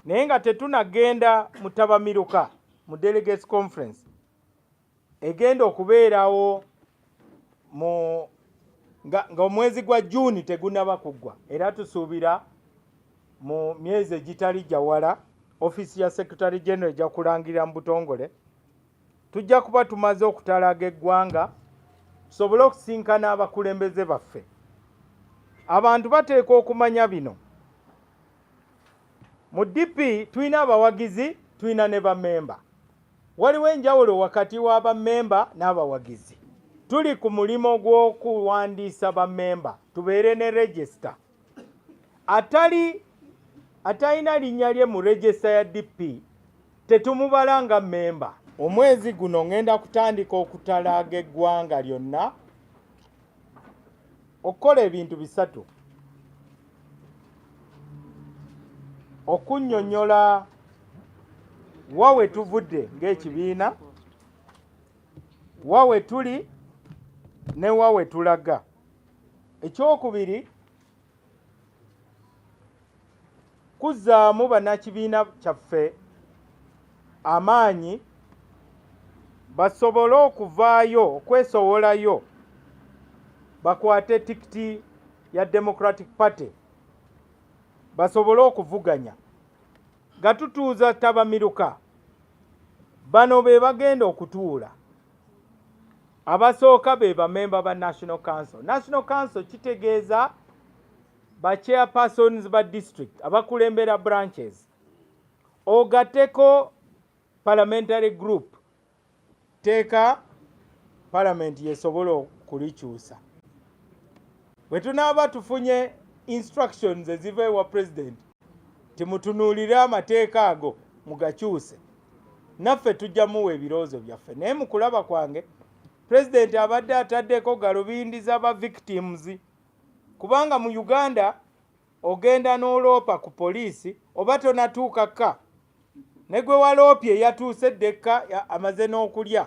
naye nga tetunagenda mu tabamiruka mu delegates conference egenda okubeerawo mu ng'omwezi gwa juuni tegunaba kuggwa era tusuubira mu myezi egitali gyawala ofiisi ya secretary general ejja kulangirira mu butongole tujja kuba tumaze okutalaaga eggwanga tusobole okusinkana abakulembeze baffe abantu bateekwa okumanya bino mu dp tulina abawagizi tulina ne bamemba waliwo enjawulo wakati wa bamemba n'abawagizi tuli ku mulimu gw'okuwandiisa bamemba tubeere ne regisita atali atalina linnya lye mu regista ya DP tetumubala nga mmemba. Omwezi guno ngenda kutandika okutalaaga eggwanga lyonna okukola ebintu bisatu okunnyonnyola wa we tuvudde ng'ekibiina wa we tuli ne wa we tulaga. ekyokubiri kuzzaamu bannakibiina kyaffe amaanyi basobole okuvaayo okwesowolayo bakwate tikiti ya democratic party basobole okuvuganya nga tutuuza tabamiruka bano be bagenda okutuula abasooka be bamemba ba national council national council kitegeeza ba chairpersons ba district abakulembera branches ogateko parliamentary group teeka palamenti yesobola okulikyusa bwe tunaaba tufunye instructions eziva ewa pulezidenti timutunuulire amateeka ago mugakyuse naffe tujja muwa ebirowoozo byaffe naye mu kulaba kwange pulezidenti abadde ataddeko galubindi za ba victims kubanga mu uganda ogenda n'oloopa ku poliisi oba tonatuuka ka ne gwe waloopye yatuuse ddekka amaze n'okulya